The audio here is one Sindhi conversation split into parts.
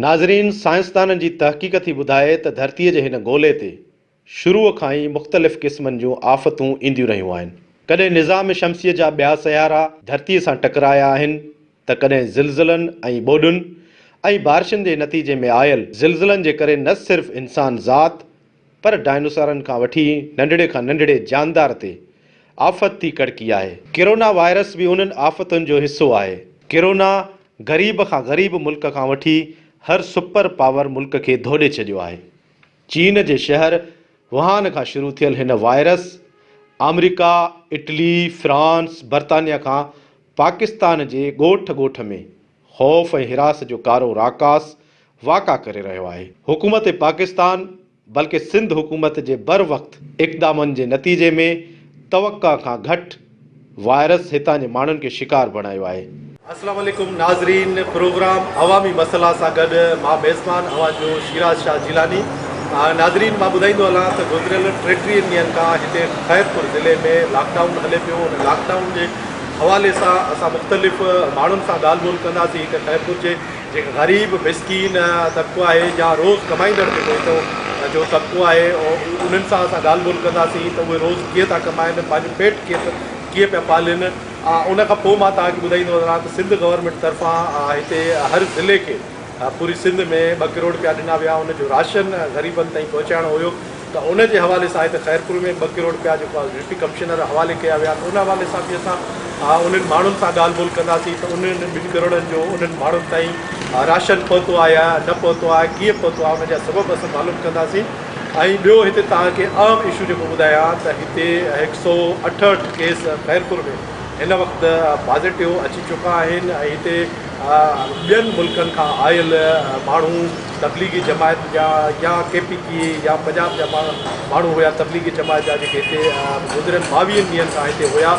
ناظرين سائنسدانن جي تحقيق ٿي ٻڌائي ته ڌرتي جي هن گولي تي شروع کان ئي مختلف قسمن جون آفتون اينديون رهيون آهن ڪڏهن نظام شمسي جا ٻيا سيارا ڌرتي سان ٽڪرايا آهن ته ڪڏهن زلزلن ۽ ٻوڏن ۽ بارشن جي نتيجي ۾ آيل زلزلن جي ڪري نه صرف انسان ذات پر ڊائنوسارن کان وٺي ننڍڙي کان ننڍڙي جاندار تي آفت ٿي ڪڙڪي آهي. ڪرونا وائرس به انهن آفتن جو حصو آهي. ڪرونا غريب کان غريب ملڪ کان وٺي هر سپر پاور ملڪ کي ڌوڏي ڇڏيو آهي. چين جي شهر وهان کان شروع ٿيل هن وائرس آمريڪا، اٽلي، فرانس، برطانيا کان پاڪستان جي ڳوٺ ڳوٺ ۾. خوف ۽ حراس جو ڪارو راڪاس واڪا ڪري رهيو آهي. حڪومت پاڪستان بلڪه سنڌ حڪومت جي بر وقت اقدامن جي نتيجي ۾ توقع کان گهٽ وائرس هتان جي ماڻهن کي شڪار بڻايو آهي. السلام عليڪم ناظرين پروگرام عوامي مسئلا سان گڏ مان ميزبان اوهان جو شيراز شاهه جيلاني ناظرين مان ٻڌائيندو هلان ته گذريل ٽيٽيهن ڏينهن کان هتي خيرپور ضلعي ۾ لاڪ ڊائون هلي پيو ان لاڪ ڊائون جي حوالي سان اسان مختلف ماڻهن سان ڳالهه ٻولهه ڪنداسين ته خيرپور جي جيڪي غريب مسڪين طبقو آهي يا روز ڪمائيندڙ جيڪو هتو جو طبقو آهي انهن سان اسان ڳالهه ٻولهه ڪنداسين ته اهي روز ڪيئن ٿا ڪمائن پنهنجو پيٽ ڪيئن ڪيئن پيا پالين ان کان پوء مان توهان کي ٻڌائيندو وڃان ته سنڌ گورنمينٽ طرفان هتي هر ضلعي کي پوري سنڌ ۾ ٻه ڪروڙ روپيا ڏنا ويا ان جو راشن غريبن تائين پهچائڻو هيو ته ان جي حوالي سان هتي خيرپور ۾ ٻه ڪروڙ رپيا جيڪو ڊپٽي ڪمشنر حوالي ڪيا ويا آهن ان حوالي سان به اسان انهن ماڻهن سان ڳالهه ٻولهه ڪنداسين ته انهن ٻن ڪروڙن جو انهن ماڻهن تائين راشن پهتو آهي يا نه پهتو آهي ڪيئن پهتو آهي ان جا سبب اسان معلوم ڪنداسين ۽ ٻيو هتي توهان کي اهم اشو جيڪو ٻڌايان ته هتي هڪ سؤ اٺهٺ ڪيس خيرپور ۾ هن وقت پازيٽو اچي چڪا آهن ۽ هتي ٻين ملڪن کان آيل ماڻهو تبليغي جماعت جا يا ڪي پي ڪي اي يا پنجاب جا ماڻهو هيا تبليغي جماعت جا جيڪي هتي گذريل ٻاويهن ڏينهن کان هتي هيا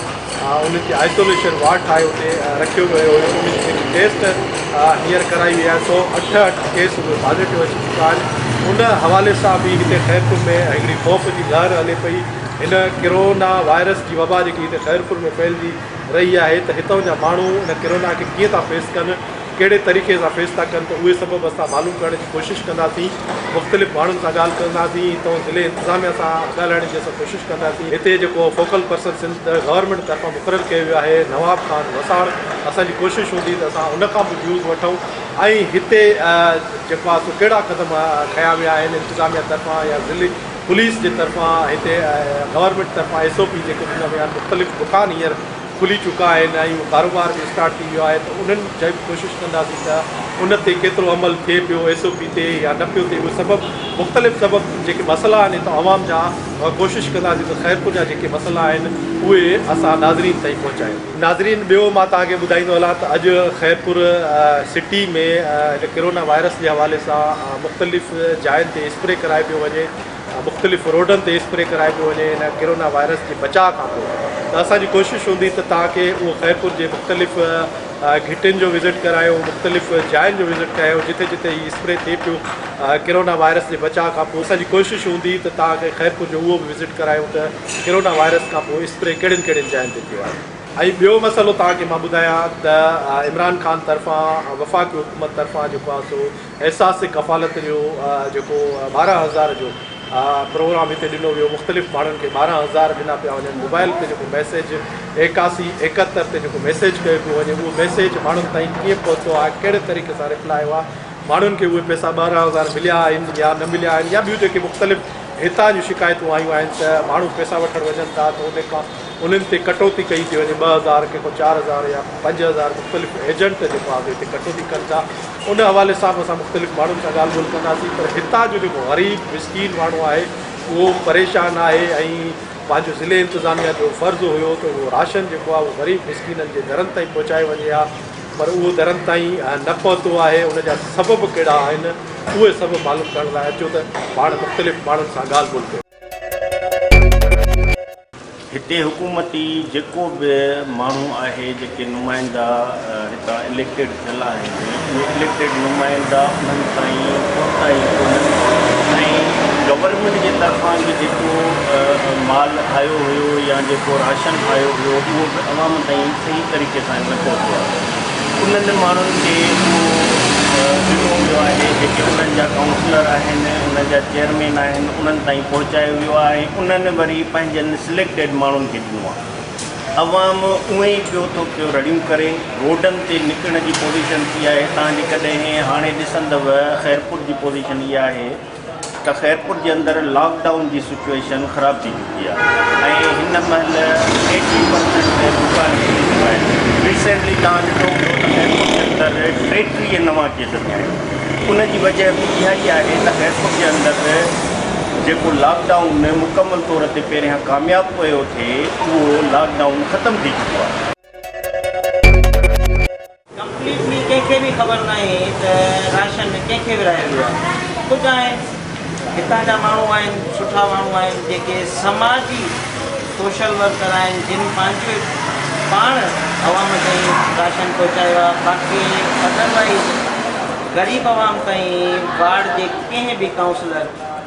انهن کي آئسوليشن وارڊ ٺاهي اتي رکيو ويو هيو انهن جي جيڪي ٽيسٽ هينئر ڪرائي وئي آهي سو اٺ اٺ ڪيس اهي پازيٽو اچي چڪا آهن ان حوالي سان به هتي خيرپور ۾ هڪڙي خوف جي لهر هلي پئي هن ڪرونا وائرس جي وبا جيڪي هتي خيرپور ۾ ڦهلجي رهي آهي ته هتان جا ماڻهو ان ڪرونا کي ڪيئن ٿا فيس ڪن ڪهڙي طريقي سان فيس ٿا ڪن ته اهي سبب اسان معلوم ڪرڻ جي ڪوشش ڪنداسين مختلف ماڻهن سان ڳالهه ڪنداسين تون ضلعي انتظاميا سان ڳالهائڻ جي اسان ڪوشش ڪنداسين هتي جيڪو فوڪل پرسن سنڌ گورنمينٽ طرفان مقرر ڪيو ويو آهي نواب خان وساڻ اسان جي ڪوشش هوندي ته اسان ان کان به ويوز وٺون ۽ هتي جيڪو آهي سو ڪهڙا قدم کنيا ويا آهن انتظاميا طرفان يا ضلعي پوليس جي طرفان هتي گورنمينٽ طرفان ايس او پي جيڪو ڏنا ويا آهن مختلف دڪان هينئر کلي چڪا آهن ۽ اهو ڪاروبار به اسٽارٽ ٿي ويو آهي ته انهن جي به ڪوشش ڪنداسين ته ان تي ڪيترو عمل ٿئي پيو ايس او پي تي يا نه پيو ٿئي اهي سبب مختلف سبب جيڪي مسئلا آهن اتان عوام جا ڪوشش ڪنداسين ته خيرپور جا جيڪي مسئلا آهن اهي اسان ناظرين تائين پهچايون. ناظرين ٻيو مان توهان کي ٻڌائيندو هلان ته اڄ خيرپور سٽي ۾ هن ڪرونا وائرس جي حوالي سان مختلف جاين تي اسپري ڪرائي پيو وڃي مختلف روڊن تي اسپري ڪرائي پيو وڃي ان ڪرونا وائرس جي بچاء کان پوء ته اسان جي ڪوشش هوندي ته توهان کي اهو خيرپور جي مختلف گهٽين جو وزٽ ڪرايون مختلف جاين جو وزٽ ڪرايون جتي جتي هي اسپري ٿئي پيو ڪرونا وائرس جي بچاء کان پوء اسان جي ڪوشش هوندي ته توهان کي خيرپور جو اهو به وزٽ ڪرايون ته ڪرونا وائرس کان پوء اسپري ڪهڙين ڪهڙين جاين تي ٿيو آهي. ۽ ٻيو مسئلو توهان کي مان ٻڌايان ته عمران خان طرفان وفاقي حڪومت طرفان جيڪو آهي سو احساس ڪفالت جو جيڪو ٻارهن هزار جو پروگرام هتي ڏنو ويو مختلف ماڻهن کي ٻارهن هزار ڏنا پيا وڃن موبائل تي جيڪو ميسيج ايڪاسي ايڪهتر تي جيڪو ميسيج ڪيو پيو وڃي اهو ميسيج ماڻهن تائين ڪيئن پهتو آهي ڪهڙي طريقي سان ريپلاء هئا ماڻهن کي اهي پيسا ٻارهن هزار مليا آهن يا نه مليا آهن يا ٻيون جيڪي مختلف هتان جون شڪايتون آيون آهن ته ماڻهو پيسا وٺڻ وڃن ٿا ته ان کان انهن تي ڪٽوتي ڪئي ٿي وڃي، ٻه هزار ڪي ڪو چار هزار يا پنج هزار مختلف ايجنٽ جيڪو آزي تي ڪٽوتي ڪن ٿا ان حوالي سان به اسان مختلف ماڻهن سان ڳالهه ٻولهه ڪنداسين پر هتان جو جيڪو غريب مسڪين ماڻهو آهي اهو پريشان آهي ۽ پنهنجو ضلعي انتظاميه جو فرض هيو ته اهو راشن جيڪو آهي اهو غريب مسڪينن جي درن تائين پهچايو وڃي ها پر اهو درن تائين نه پهتو آهي ان جا سبب ڪهڙا آهن اهي سبب معلوم ڪرڻ لاء اچو ته پاڻ مختلف ماڻهن سان ڳالهه ٻولهه ڪيون. هتي حڪومتي جيڪو به ماڻهو آهي جيڪي نمائندا هتان اليڪٽيڊ ٿيل آهن اهي اليڪٽيڊ نمائندا انهن تائين پهتا ئي ڪونهن ۽ گورنمينٽ جي طرفان به جيڪو مال آيو هيو يا جيڪو راشن آيو هيو اهو به عوام تائين صحيح طريقي سان نه پهتو آهي. انهن ماڻهن کي اهو ذمو ويو آهي جيڪي انهن جا ڪائونسلر آهن، انهن جا چيئرمين آهن، انهن تائين پهچايو ويو آهي ۽ انهن وري پنهنجن سليڪٽيڊ ماڻهن کي ڏنو آهي. عوام اونهي ئي پيو ٿو پيو رڙيون ڪري، روڊن تي نڪرڻ جي پوزيشن ٿي آهي، تان جيڪڏهن هاڻي ڏسندؤ خيرپور جي پوزيشن اها آهي، ته خيرپور جي اندر لاڪ ڊائون جي سچوئيشن خراب ٿي چڪي آهي ۽ هن مهل ايٽي پرسينٽ تي دڪان کلي چڪا آهن ريسينٽلي توهان ڏٺو هوندو ته خيرپور جي اندر ٽيٽيهه نوان ڪيس ٿيا آهن ان جي وجهه به اها ئي آهي ته خيرپور جي اندر جيڪو لاڪ ڊائون مڪمل طور تي پهريان ڪامياب پيو ٿئي اهو لاڪ ڊائون ختم ٿي چڪو آهي. ڪمپليٽلي ڪنهن کي به خبر ناهي ته راشن ڪنهن کي ورهايو ويو آهي ڪجهه آهن هتان جا ماڻهو آهن سٺا ماڻهو آهن جيڪي سماجي سوشل ورڪر آهن جن پنهنجي پاڻ عوام تائين راشن پهچايو آهي باقي ادروائيز غريب عوام تائين وارڊ جي ڪنهن به ڪائونسلر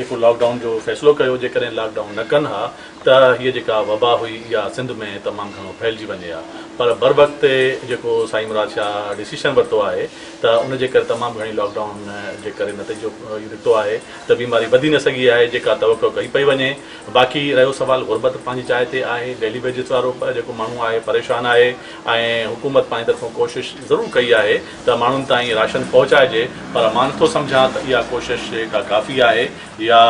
جيڪو لاڪ ڊائون جو فيصلو ڪيو جيڪڏهن لاڪ ڊائون نه ڪن ها ته هيء جيڪا وبا هئي اها سنڌ ۾ تمام گهڻو ڦهلجي وڃي ها پر بروقت جيڪو سائين مراد شاهه ڊسيشن ورتو آهي ته ان جي ڪري تمام گهڻي لاڪ ڊائون جي ڪري نتيجو اهو نڪتو آهي ته بيماري وڌي نه سگهي آهي جيڪا توقع ڪئي پئي وڃي باقي رهيو سوال غربت پنهنجي جاء تي آهي ڊيلي ويجز وارو جيڪو ماڻهو آهي پريشان آهي ۽ حڪومت پنهنجي طرفون ڪوشش ضرور ڪئي آهي ته ماڻهن تائين راشن پهچائجي پر مان نٿو سمجهان ته اها ڪوشش ڪا ڪافي آهي يا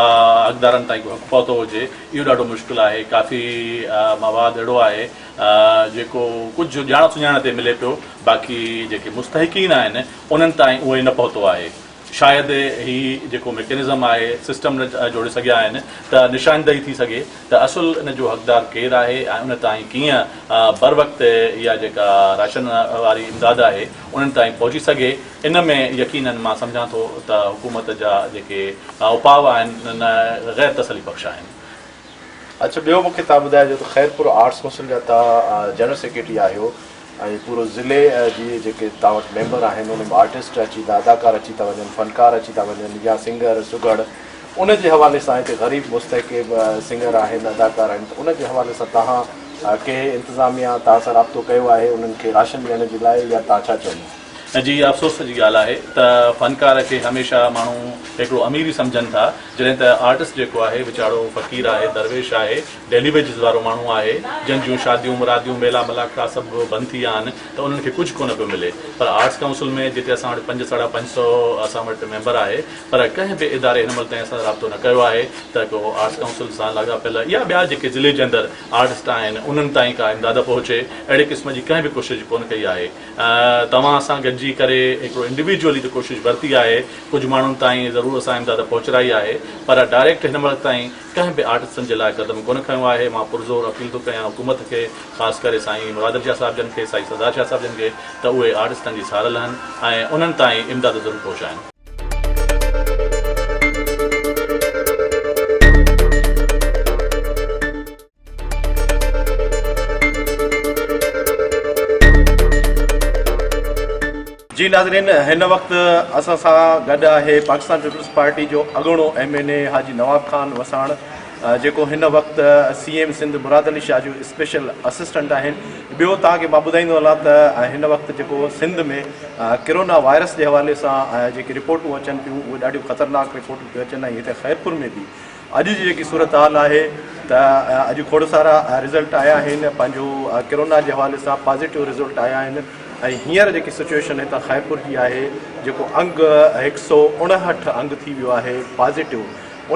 حقدارن تائين ڪو حق پهتو هجي اهو ڏاڍو مشڪل آهي ڪافي مواد اهڙو آهي جيڪو ڪجهه ڄاڻ سڃاڻ تي ملي پيو باقي جيڪي مستحقين آهن انهن تائين اهو نه پهتو آهي شايد هي جيڪو ميڪنزم آهي سسٽم نه جوڙي سگهيا آهن ته نشاندهي ٿي سگهي ته اصل ان جو حقدار ڪير آهي ۽ ان تائين ڪيئن بروقت اها جيڪا راشن واري امداد آهي انهن تائين پهچي سگهي ان ۾ يقينن مان سمجهان ٿو ته حڪومت جا جيڪي اپاء آهن نه غير تسلي بخش آهن. اڇ ٻيو مونکي تان ٻڌائجو ته خيرپور آرٽس ڪونسل جا تان جنرل سيڪريٽري آهيو ۽ پورو ضلعي جي جيڪي تان وٽ ميمبر آهن انهن ۾ آرٽسٽ اچي ٿا اداڪار اچي ٿا وڃن فنڪار اچي ٿا وڃن يا سنگر سگهڙ ان جي حوالي سان هتي غريب مستحق سنگر آهن اداڪار آهن ته ان جي حوالي سان تهان ڪنهن انتظاميا تهان سان رابطو ڪيو آهي انهن کي راشن ڏيڻ جي لاء يا تهان ڇا چوندو جي افسوس جي ڳالهه آهي ته فنڪار کي هميشه ماڻهو هڪڙو امير ئي سمجهن ٿا جڏهن ته آرٽسٽ جيڪو آهي ويچارو فقير آهي درويش آهي ڊيلي ويجز وارو ماڻهو آهي جن جون شاديون مراديون ميلا ملاکا سڀ بند ٿي ويا آهن ته انهن کي ڪجهه ڪونه پيو ملي پر آرٽس ڪائونسل ۾ جتي اسان وٽ پنج ساڍا پنج سئو اسان وٽ ميمبر آهي پر ڪنهن به اداري هن مهل تائين سان رابطو نه ڪيو آهي ته ڪو آرٽس ڪائونسل سان لاڳاپيل يا ٻيا جيڪي ضلعي جي اندر آرٽسٽ آهن انهن تائين ڪا امداد پهچي اهڙي قسم جي ڪنهن به ڪوشش ڪونه ڪئي آهي توهان اسان گڏجي ڪري هڪڙو انڊيويڊيولي ته ڪوشش ورتي آهي ڪجهه ماڻهن تائين ضرور اسان امداد پهچرائي آهي پر ڊائريڪٽ هن وقت تائين ڪنهن به آرٽسٽن جي لاء قدم ڪونه کنيو آهي مان پرزور اپيل ٿو ڪيان حڪومت کي خاص ڪري سائين مرادعلي شاهه صاحب جن کي سائين سردار شاهه صاحب جن کي ته اهي آرٽسٽن جي سار لهن ۽ انهن تائين امداد ضرور پهچائن. جي ناظرين هن وقت اسان سان گڏ آهي پاڪستان پيپلز پارٽي جو اڳوڻو M N A Haji Nawab Khan Wassan جيڪو هن وقت سي ايم سنڌ مراد علي شاهه جو اسپيشل اسسٽنٽ آهن ٻيو توهان کي مان ٻڌائيندو هلان ته هن وقت جيڪو سنڌ ۾ ڪرونا وائرس جي حوالي سان جيڪي رپورٽون اچن پيون اهي ڏاڍيون خطرناڪ رپورٽون پيون اچن ۽ هتي خيرپور ۾ به اڄ جي جيڪي صورتحال آهي ته اڄ کوڙ سارا رزلٽ آيا آهن پنهنجو ڪرونا جي حوالي سان پازيٽو رزلٽ آيا آهن ۽ هينئر جيڪي سچويشن هتان خيرپور جي آهي جيڪو انگ هڪ سؤ اڻهٺ انگ ٿي ويو آهي پازيٽو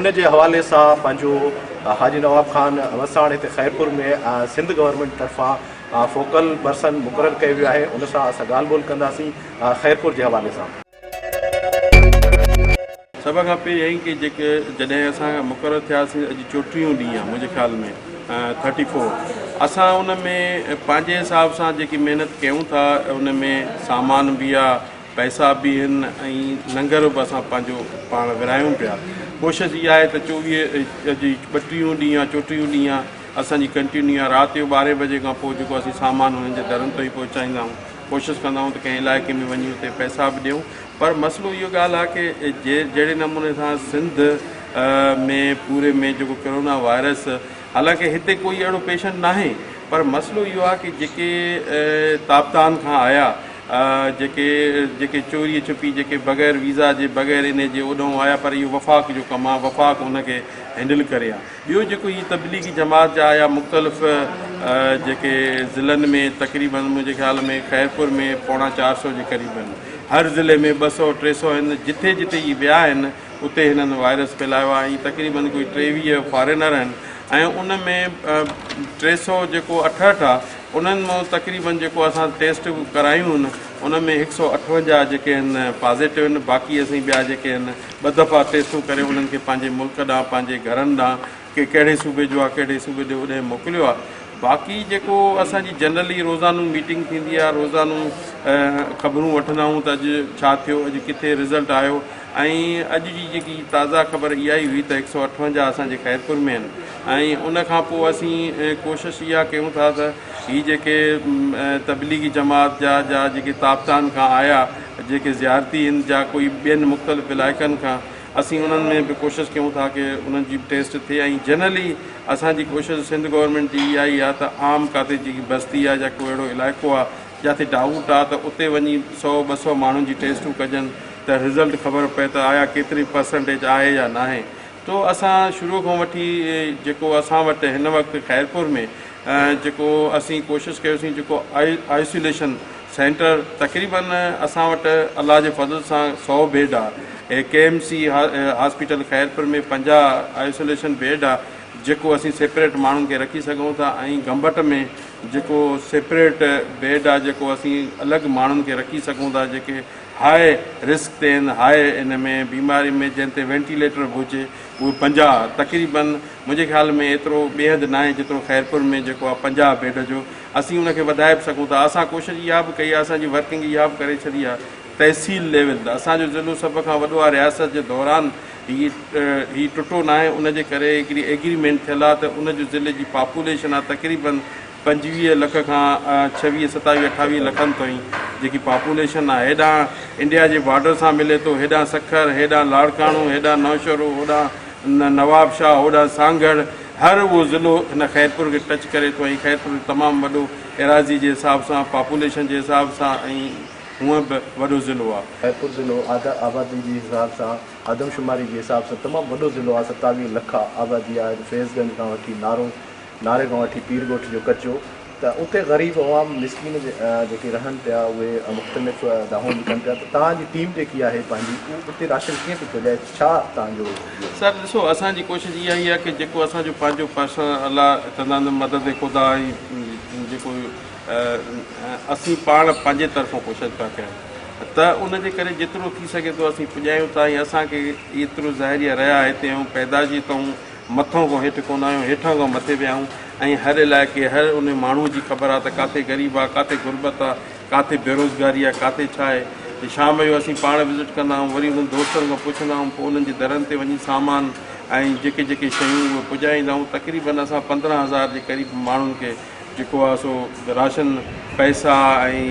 ان جي حوالي سان پنهنجو حاجي نواب خان وساڻ هتي خيرپور ۾ سنڌ گورنمينٽ طرفان فوڪل پرسن مقرر ڪيو ويو آهي ان سان اسان ڳالهه ٻولهه ڪنداسين خيرپور جي حوالي سان سڀ کان پهريائين ڪي جيڪي جڏهن اسان مقرر ٿياسين اڄ چوٽيهون ڏينهن آهي منهنجي خيال ۾ ٿرٽي فور اسان ان ۾ پنهنجي حساب سان جيڪي محنت ڪيون ٿا ان ۾ سامان به آ پئسا به هن ۽ لنگر به اسان پنهنجو پاڻ ورهايون پيا ڪوشش اها آهي ته چوويهه اڄ ٻٽيهون ڏينهن آ چوٽيهون ڏينهن آ اسان جي ڪنٽينيو آ رات جو ٻارهين بجي کان پوء جيڪو اسين سامان هنن جي درن تائين پهچائيندا آهيون ڪوشش ڪندا آهيون ته ڪنهن علائقي ۾ وڃي اتي پئسا به ڏيون پر مسئلو اهو ڳالهه آهي ڪي جي جهڙي نموني سان سنڌ ۾ پوري ۾ جيڪو ڪرونا وائرس حالانڪه هتي ڪوئي اهڙو پيشنٽ ناهي پر مسئلو اهو آهي ڪي جيڪي تابتان کان آيا جيڪي جيڪي چوري ڇپي جيڪي بغير ويزا جي بغير انهي جي اوڏهون آيا پر اهو وفاق جو ڪم آهي وفاق ان کي هينڊل ڪري ها. ٻيو جيڪو هي تبليغي جماعت جا يا مختلف جيڪي ضلعن ۾ تقريبا منهنجي خيال ۾ خيرپور ۾ پوڻا چار سئو جي قريب آهن هر ضلعي ۾ ٻه سئو ٽي سئو آهن جتي جتي هي ويا آهن اتي هنن وائرس ڦهلايو آهي ۽ تقريبا ڪوئي ٽيويهه فارينر آهن ۽ ان ۾ ٽي سئو جيڪو اٺهٺ آهي انهن مان تقريبا جيڪو اسان ٽيسٽ ڪرايون آهن ان ۾ هڪ سئو اٺونجاهه جيڪي آهن پازيٽو آهن باقي اسين ٻيا جيڪي آهن ٻه دفعا ٽيسٽون ڪري انهن کي پنهنجي ملڪ ڏانهن پنهنجي گهرن ڏانهن ڪي ڪهڙي صوبي جو آ ڪهڙي صوبي جو هوڏانهن موڪليو آ باقي جيڪو اسان جي جنرلي روزانو ميٽنگ ٿيندي آ روزانو خبرون وٺندا آهون ته اڄ ڇا ٿيو اڄ ڪٿي رزلٽ آيو ۽ اڄ جي جيڪي تازا خبر اها ئي هئي ته هڪ سؤ اٺونجاهه اسان جي خيرپور ۾ آهن ۽ ان کان پوء اسين ڪوشش اها ڪيون ٿا ته هي جيڪي تبليغي جماعت جا جا جيڪي تابتان کان آيا جيڪي زيارتي هند جا ڪوئي ٻين مختلف علائقن کان اسين انهن ۾ به ڪوشش ڪيون ٿا ڪي انهن جي به ٽيسٽ ٿئي ۽ جنرلي اسان جي ڪوشش سنڌ گورنمينٽ جي اها ئي آ ته عام ڪاتي جيڪي بستي آ يا ڪو اهڙو علائقو آ جاتي ڊائوٽ آ ته اتي وڃي سئو ٻه سئو ماڻهن جي ٽيسٽون ڪجن ته رزلٽ خبر پئي ته آيا ڪيتري پرسنٽيج آهي يا ناهي تو اسان شروع کان وٺي جيڪو اسان وٽ هن وقت خيرپور ۾ جيڪو اسين ڪوشش ڪيوسين جيڪو آئسوليشن سينٽر تقريبا اسان وٽ الله جي فضل سان سؤ بيڊ آ A K M C hospital Khairpur ۾ پنجاهه آئسوليشن بيڊ آ جيڪو اسين سيپريٽ ماڻهن کي رکي سگهون ٿا ۽ گمبٽ ۾ جيڪو سيپريٽ بيڊ آ جيڪو اسين الڳ ماڻهن کي رکي سگهون ٿا جيڪي هاء رسڪ تي آهن، هاء ان ۾ بيمارين ۾ جنهن تي وينٽيليٽر به هجي اهي پنجاهه تقريبن منهنجي خيال ۾ ايترو ٻيحد ناهي جيترو خيرپور ۾ جيڪو آهي پنجاهه بيڊ جو اسين ان کي وڌائي به سگهون ٿا اسان ڪوشش اها به ڪئي آهي اسان جي ورڪنگ اها به ڪري ڇڏي آهي تحصيل ليول ته اسان جو ضلعو سڀ کان وڏو آهي رياست جي دوران هي هي ٽٽو ناهي ان جي ڪري هڪڙي ايگريمينٽ ٿيل آهي ته ان جو ضلعي جي پاپوليشن آهي تقريبن پنجويهه لک کان ڇويهه ستاويهه اٺاويهه لکن تائين جيڪي پاپوليشن آهي هيڏانهن انڊيا جي بارڊر سان ملي ٿو هيڏانهن سکر هيڏانهن لاڙڪاڻو هيڏانهن نوشهرو هوڏانهن نوابشاهه هوڏانهن سانگهڙ هر اهو ضلعو هن خيرپور کي ٽچ ڪري ٿو ۽ خيرپور تمام وڏو ايراضي جي حساب سان پاپوليشن جي حساب سان ۽ هونئن به وڏو ضلعو آهي. خيرپور ضلعو آبادي جي حساب سان آدمشماري جي حساب سان تمام وڏو ضلعو آهي ستاويهه لک آبادي آهي فيض گنج کان وٺي نارو ناري کان وٺي پير ڳوٺ جو ڪچو ته اتي غريب عوام مسڪين جيڪي رهن پيا اهي مختلف دانهون به ڪن پيا ته توهان جي ٽيم جيڪي آهي پنهنجي اهو اتي راشن ڪيئن ٿي پهچائي ڇا توهان جو سر ڏسو اسان جي ڪوشش اها ئي آهي ڪي جيڪو اسان جو پنهنجو پرسن الله چوندا آهن مدد خدا ۽ جيڪو اسين پاڻ پنهنجي طرفون ڪوشش پيا ڪيون ته ان جي ڪري جيترو ٿي سگهي ٿو اسين پڄايون ٿا ۽ اسان کي ايترو ظاهري رهيا هتي ۽ پيدا جي تئون مٿئون کان هيٺ ڪونه آهيون، هيٺان کان مٿي پيا آهيون ۽ هر علائقي، هر انهي ماڻهوء جي خبر آ ته ڪاٿي غريب آ، ڪاٿي غربت آ، ڪاٿي بيروزگاري آ، ڪاٿي ڇا آهي. شام جو اسين پاڻ وزٽ ڪندا آهيون، وري انهن دوستن کان پڇندا آهيون، پوء انهن جي درن تي وڃي سامان ۽ جيڪي جيڪي شيون اهي پڄائيندا آهيون. تقريبن اسان پندرهن هزار جي قريب ماڻهن کي. جيڪو آ سو راشن پئسا ۽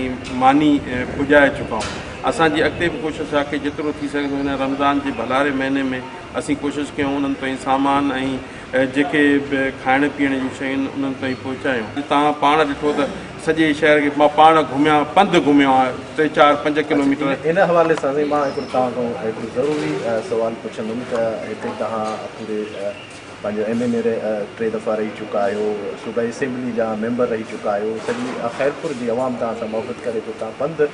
ماني پڄائي چڪا آهيون اسان جي اڳتي به ڪوشش آ ڪي جيترو ٿي سگهي ٿو هن رمضان جي ڀلاري مهيني ۾ اسين ڪوشش ڪيون انهن تائين سامان ۽ جيڪي به کائڻ پيئڻ جون شيون انهن تائين پهچايون توهان پاڻ ڏٺو ته سڄي شهر کي مان پاڻ گهميان پنڌ گهميو آهيان ٽي چار پنج ڪلوميٽر ان حوالي سان سائين مان هڪڙو توهان کان هڪڙو ضروري سوال پڇندم ته هتي توهان پوري پنهنجو ايم اين اي رهي ٽي دفعا رهي چڪا آهيو صوبائي اسيمبلي جا ميمبر رهي چڪا آهيو سڄي خيرپور جي عوام توهان سان محبت ڪري ٿو توهان پنڌ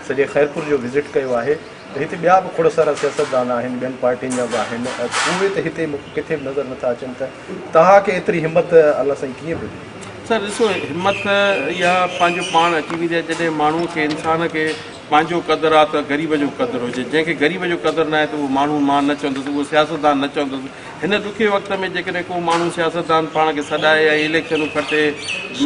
سڄي خيرپور جو وزٽ ڪيو آهي ته هتي ٻيا به کوڙ سارا سياستدان آهن ٻين پارٽين جا به آهن اهي ته هتي مون کي ڪٿي به نظر نٿا اچن ته توهان کي ايتري همت الله سائين ڪيئن پيو ڏئي سر ڏسو همت اها پنهنجو پاڻ اچي ويندي آهي جڏهن ماڻهو کي انسان کي پنهنجو قدر آ ته غريب جو قدر هجي، جنهن کي غريب جو قدر ناهي ته اهو ماڻهو مان نه چوندس، اهو سياستدان نه چوندس. هن ڏکي وقت ۾ جيڪڏهن ڪو ماڻهو سياستدان پاڻ کي سڏائي ۽ اليڪشنون کٽي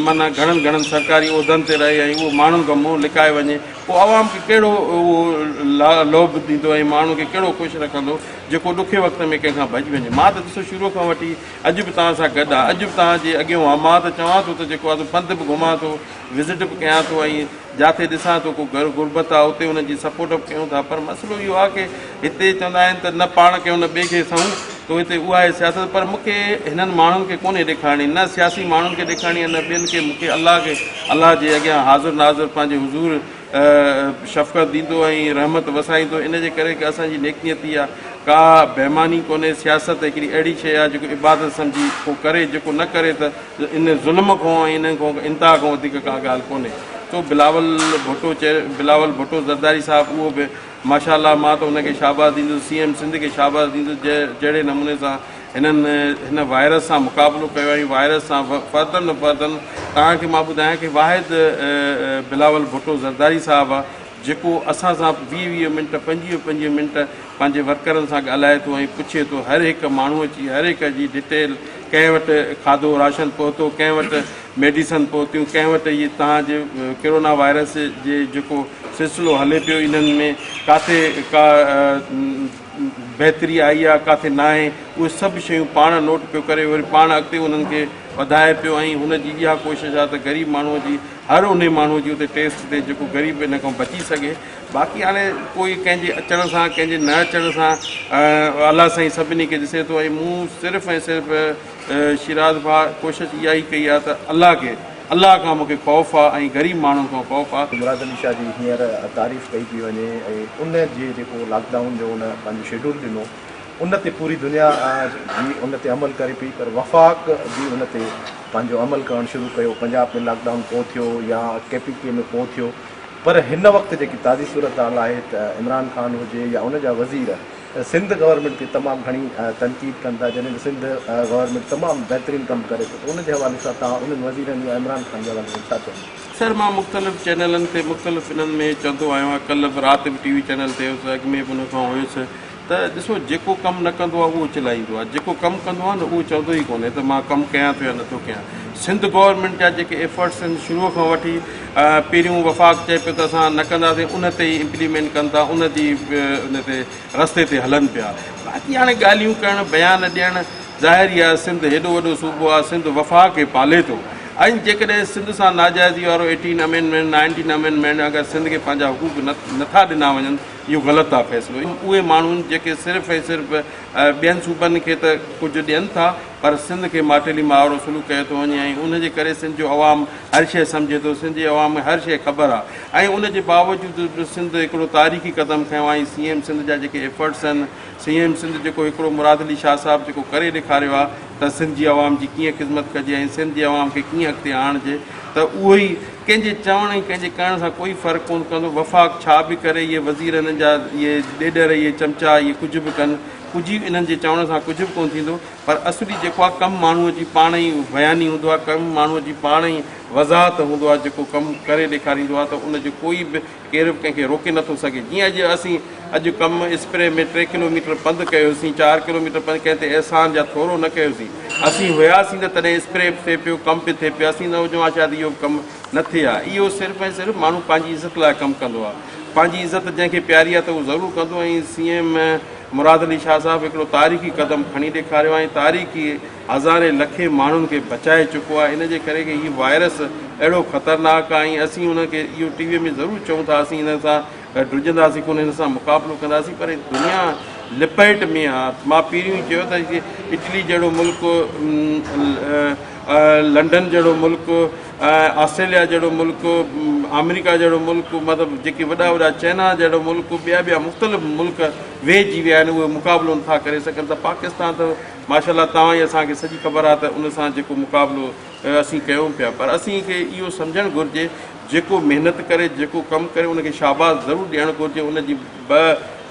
معنيٰ گهڻن گهڻن سرڪاري عهدن تي رهي ۽ اهو ماڻهن کان منهن لڪائي وڃي پوء عوام کي ڪهڙو اهو لوڀ ڏيندو ۽ ماڻهن کي ڪهڙو خوش رکندو جيڪو ڏکي وقت ۾ ڪنهن کان ڀڄي وڃي. مان ته ڏسو شروع کان وٺي اڄ به توهان سان گڏ آ، اڄ به توهان جي اڳيون آ، مان ته چوان ٿو ته جيڪو آ سو پنڌ به گهمان ٿو، وزٽ به ڪيان ٿو ۽ جاٿي ڏسان ٿو ڪو گهر غربت آ اتي ان جي سپورٽ به ڪيون ٿا پر مسئلو اهو آ ڪي هتي چوندا آهن ته نه پاڻ ڪيون نه ٻئي کي سهون تو هتي اها آهي سياست پر مون کي هنن ماڻهن کي ڪونهي ڏيکارڻي نه سياسي ماڻهن کي ڏيکارڻي آ نه ٻين کي مون کي الله کي الله جي اڳيان حاضر ناظر پنهنجي حضور شفقت ڏيندو ۽ رحمت وسائيندو ان جي ڪري ڪي اسان جي نيڪنيتي آ ڪا بيماني ڪونهي سياست هڪڙي اهڙي شي آ جيڪو عبادت سمجهي ڪو ڪري جيڪو نه ڪري ته ان ظلم کان ۽ انهن کان انتها کان وڌيڪ ڪا ڳالهه ڪونهي تو بلاول ڀٽو چئي بلاول ڀٽو زرداري صاحب اهو به ماشاء الله مان ته ان کي شاباس ڏيندس سي ايم سنڌ کي شاباس ڏيندس جنهن جهڙي نموني سان هنن هن وائرس سان مقابلو ڪيو ۽ وائرس سان فردن فردن توهان کي مان ٻڌايان ڪي واحد بلاول ڀٽو زرداري صاحب جيڪو اسان سان ويهه ويهه منٽ پنجويهه پنجويهه منٽ پنهنجي ورڪرن سان ڳالهائي ٿو ۽ پڇي ٿو هر هڪ ماڻهوء جي هر هڪ جي ڊٽيل ڪنهن وٽ کاڌو راشن پهتو ڪنهن وٽ ميڊيسن پهتيون ڪنهن وٽ اهي تهان جي ڪرونا وائرس جي جيڪو سلسلو هلي پيو انهن ۾ ڪاٿي ڪا بهتري آئي آهي ڪاٿي ناهي اهي سڀ شيون پاڻ نوٽ پيو ڪري وري پاڻ اڳتي انهن کي وڌائي پيو ۽ هن جي اها ڪوشش آهي ته غريب ماڻهوء جي هر انهي ماڻهوء جي اتي ٽيسٽ ٿئي جيڪو غريب ان کان بچي سگهي باقي هاڻي ڪوئي ڪنهن جي اچڻ سان ڪنهن جي نه اچڻ سان الله سائين سڀني کي ڏسي ٿو ۽ مون صرف ۽ صرف شيراز ڀاء ڪوشش اها ئي ڪئي آهي ته الله کي الله کان مونکي خوف آ ۽ غريب ماڻهن کان خوف آ. مراد علي شاهه جي هينئر تعريف ڪئي پئي وڃي ۽ ان جي جيڪو لاڪ ڊائون جو ان پنهنجو شيڊول ڏنو ان تي پوري دنيا جي ان تي عمل ڪري پئي پر وفاق جي ان تي پنهنجو عمل ڪرڻ شروع ڪيو پنجاب ۾ لاڪ ڊائون ڪو ٿيو يا ڪي پي ڪي ۾ ڪو ٿيو پر هن وقت جيڪي تازي صورتحال آهي ته عمران خان هجي يا ان جا وزير سنڌ گورنمينٽ تي تمام گهڻي تنقيد ڪن ٿا جڏهن ته سنڌ گورنمينٽ تمام بهترين ڪم ڪري ٿي ته ان جي حوالي سان توهان انهن وزيرن يا عمران خان جي حوالي سان ڇا چوندو. سر مان مختلف چينلن تي مختلف انهن ۾ چوندو آهيان ڪلهه به رات به ٽي وي چينل تي هيس اڳ ۾ به ان کان هيس ته ڏسو جيڪو ڪم نه ڪندو آهي اهو چلائيندو آهي جيڪو ڪم ڪندو آهي نه اهو چوندو ئي ڪونهي ته مان ڪم ڪيان ٿو يا نٿو ڪيان سنڌ گورنمينٽ جا جيڪي ايفرٽس آهن شروع کان وٺي پهريون وفاق چئي پيو ته اسان نه ڪنداسين ان تي ئي امپليمينٽ ڪن ٿا ان جي ان تي رستي تي هلن پيا باقي هاڻي ڳالهيون ڪرڻ بيان ڏيڻ ظاهر ئي آهي سنڌ هيڏو وڏو صوبو آهي سنڌ وفاق کي پالي ٿو ۽ جيڪڏهن سنڌ سان ناجائزي وارو ايٽين امينڊمينٽ نائنٽين امينڊمينٽ اگر سنڌ کي پنهنجا حقوق نه نٿا ڏنا وڃن اهو غلط آهي فيصلو اهي ماڻهو جيڪي صرف ۽ صرف ٻين صوبن کي ته ڪجهه ڏين ٿا پر سنڌ کي ماٽيلي مان آوڙو سلوڪ ڪيو ٿو وڃي ۽ ان جي ڪري سنڌ جو عوام هر شيء سمجهي ٿو سنڌ جي عوام کي هر شيء خبر آهي ۽ ان جي باوجود به سنڌ هڪڙو تاريخي قدم کنيو آهي سي ايم سنڌ جا جيڪي ايفرٽس آهن سي ايم سنڌ جيڪو هڪڙو مراد علي شاهه صاحب جيڪو ڪري ڏيکاريو آ ته سنڌ جي عوام جي ڪيئن خدمت ڪجي ۽ سنڌ جي عوام کي ڪيئن اڳتي آڻجي ته اهو ئي ڪنهن جي چوڻ ۽ ڪنهن جي ڪرڻ سان ڪوئي فرق ڪونه پوندو وفاق ڇا به ڪري اهي وزير هنن جا اهي ڏيڏر اهي چمچا اهي ڪجهه به ڪن ڪجهه انهن جي چوڻ سان ڪجهه به ڪونه ٿيندو پر اصلي جيڪو آ ڪم ماڻهو جي پاڻ ئي بياني هوندو آ ڪم ماڻهو جي پاڻ ئي وضاحت هوندو آ جيڪو ڪم ڪري ڏيکاريندو آ ته ان جو ڪوئي به ڪير به ڪنهن کي روڪي نٿو سگهي. جيئن اڄ اسين اڄ ڪم اسپري ۾ ٽي ڪلوميٽر پنڌ ڪيوسين، چار ڪلوميٽر پنڌ ڪنهن تي احسان يا ٿورو نه ڪيوسين. اسين هياسين ته تڏهن اسپري به ٿئي پيو، ڪم به ٿئي پيو. اسين نه هجون ها شايد اهو به ڪم نه ٿئي ها. اهو صرف ۽ صرف ماڻهو پنهنجي عزت لاء ڪم ڪندو آهي. پنهنجي عزت جنهن کي پياري آهي ته اهو ضرور ڪندو ۽ سي ايم مراد علي شاهه صاحب هڪڙو تاريخي قدم کڻي ڏيکاريو آهي ۽ تاريخ هزارين لکين ماڻهن کي بچائي چڪو آهي ان جي ڪري ڪي هي وائرس اهڙو خطرناڪ آهي ۽ اسين انهن کي اهو ٽي وي ۾ ضرور چئون ٿا اسين هن سان ڊڄنداسين ڪونه هن سان مقابلو ڪنداسين پر هي دنيا لپيٽ ۾ آهي مان پهريون ئي چيو ته اٽلي جهڙو ملڪ لنڊن جهڙو ملڪ آسٽريليا جهڙو ملڪ آمريڪا جهڙو ملڪ مطلب جيڪي وڏا وڏا چئنا جهڙو ملڪ ٻيا ٻيا مختلف ملڪ ويهجي ويا آهن اهي مقابلو نٿا ڪري سگهن ته پاڪستان ته ماشاءالله توهان جي اسان کي سڄي خبر آهي ته ان سان جيڪو مقابلو اسين ڪيون پيا پر اسين کي اهو سمجهڻ گهرجي جيڪو محنت ڪري جيڪو ڪم ڪري ان کي شاباس ضرور ڏيڻ گهرجي ان جي به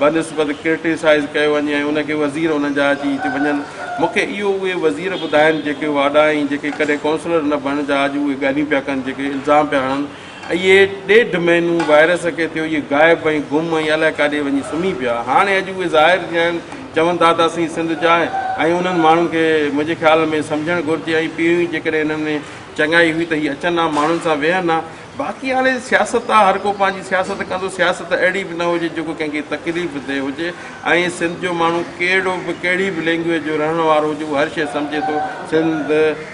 بنسبت ڪرٽيسائز ڪيو وڃي ۽ ان کي وزير ان جا اچي هتي وڃن مون کي اهو اهي وزير ٻڌائن جيڪي واڏا ۽ جيڪي ڪڏهن ڪونسلر نه بڻجا اڄ اهي ڳالهيون پيا ڪن جيڪي الزام پيا هڻن اهي ڏيڍ مهينو وائرس کي ٿيو اهي غائب ۽ گم ۽ الائي ڪاڏي وڃي سمهي پيا هاڻي اڄ اهي ظاهر ٿيا آهن چون ٿا ته اسين سنڌ جا ۽ انهن ماڻهن کي منهنجي خيال ۾ سمجهڻ گهرجي ۽ پيون ئي جيڪڏهن انهن ۾ چڱائي هئي ته هي اچن ها ماڻهن سان ويهن ها باقي هاڻي سياست آهي هر ڪو پنهنجي سياست ڪندو سياست اهڙي به نه هجي جيڪو ڪنهن کي تڪليف ڏي هجي ۽ سنڌ جو ماڻهو ڪهڙو به ڪهڙي به لينگويج جو رهڻ وارو هجي اهو هر شيء سمجهي ٿو سنڌ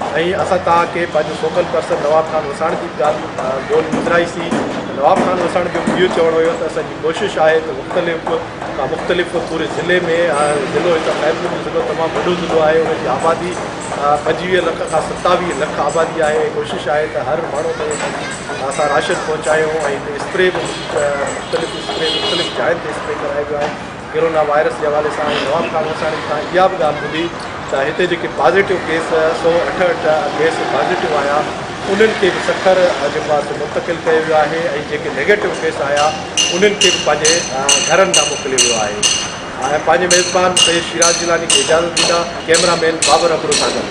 سائين اسان توهان کي پنهنجو سوکل پرسن نواب خان وساڻ جي ڳالهه ٻولهه ٻڌرائي سي. نواب خان وساڻ جو اهو چوڻ هيو ته اسان جي ڪوشش آهي ته مختلف کان مختلف پوري ضلعي ۾ ضلعو هتان خيرپور جو ضلعو تمام وڏو ضلعو آهي ان جي آبادي پنجويهه لک کان ستاويهه لک آبادي آهي ۽ ڪوشش آهي ته هر ماڻهو تائين اسان جي اسان راشن پهچايون ۽ هتي اسپري به مختلف اسپري مختلف جاين تي اسپري ڪرايو ويو آهي ڪورونا وائرس جي حوالي سان آئون نواب خان وساڻي کان اها به ڳالهه ٻڌي ته هتي جيڪي پازيٽو ڪيس سؤ اٺهٺ ڪيس پازيٽو آيا انهن کي به سکر جيڪو آهي سو منتقل ڪيو ويو آهي ۽ جيڪي نيگيٽو ڪيس آيا انهن کي به پنهنجي گهرن ڏانهن موڪليو ويو آهي ۽ پنهنجي ميزبان سيد شيراز جيلاني کي اجازت ڏيندا ڪيمرا مين بابر ابڙو سان گڏ.